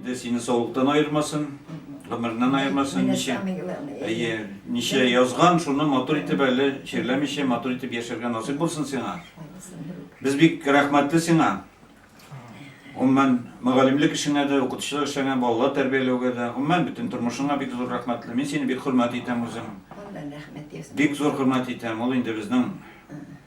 Инде сине саулыктан аермасын, гомереннән аермасын, ничә, әйе, ничә язган, шуны матур итеп әле чирләмичә матур итеп яшәргә насыйп булсын сиңа. Без бик рәхмәтле сиңа. Умман мөгаллимлек эшеңә дә, укытучылык эшеңә, балалар тәрбияләүгә дә, умман бөтен тормышыңа бик зур рәхмәтле. Мин сине бик хөрмәт итәм үзем. Бик зур хөрмәт итәм. Ул инде безнең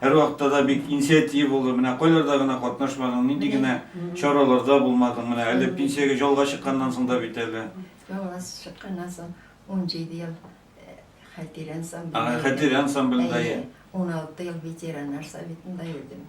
Һәрвакытта да бик инициатив булдың, менә кайларда гына катнашмадың, нинди генә чараларда булмадың, менә әле пенсиягә ялга чыкканнан соң да бит әле. Ялга чыкканнан соң унҗиде ел хәтирә ансамблендә. Хәтирә ансамблендә. Уналты ел ветераннар советында йөрдем.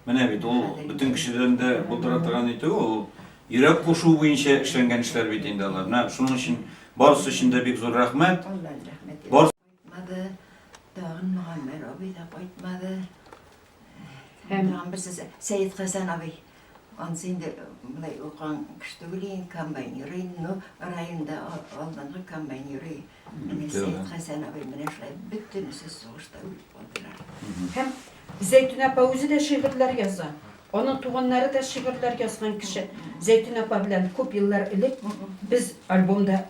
Менә бит ул бөтен кешедән дә булдыра торган итү, ул йөрәк кушу буенча эшләнгән эшләр бит инде алар. Менә шуның өчен барысы өчен дә бик зур рәхмәт. Кайтмады, тагын Мөгаммәр абый да кайтмады. Һәм тагын берсе Сәет Хәсән абый. Ансы инде мынай укыган кеше түгел инде, комбайн йөри инде, ну, районда алдынгы комбайн йөри. Менә Сәет Хәсән абый менә шулай бөтенесе сугышта үлеп калдылар. Һәм Зәйтүнә апа үзе дә шигырьләр яза. Аның туганнары да шигырьләр язган кеше. Зәйтүнә апа белән күп еллар элек без альбомда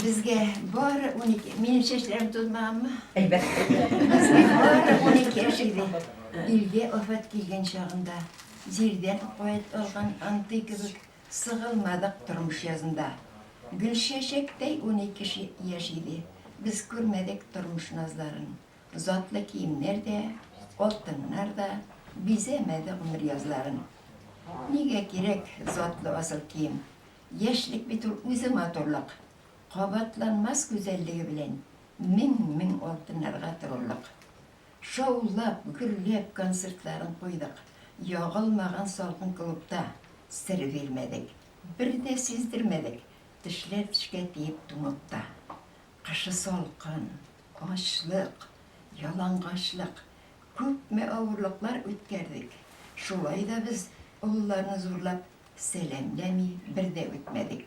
Безгә бары унике, минем чәчләрем тузмаганмы? Әлбәттә. Безгә бары унике яшь иде. Илгә афәт килгән чагында, җирдән куәт алган антый кебек сыгылмадык тормыш язында. Гөлчәчәктәй унике яшь иде. Без күрмәдек тормыш назларын. Затлы киемнәр дә, алтыннар да бизәмәде гомер язларын. Нигә кирәк затлы асыл кием? Яшьлек бит ул үзе матурлык. Кабатланмас гүзәллеге белән мең-мең алтыннарга торырлык. Шаулап, гөрләп концертларын куйдык. Ягылмаган салкын клубта сер бирмәдек. Бер дә сиздермәдек, тешләр тешкә тиеп туңып та. Кышы салкын, ачлык, ялангачлык, күпме авырлыклар үткәрдек. Шулай да без Олыларны зурлап сәламләми бер дә үтмәдек.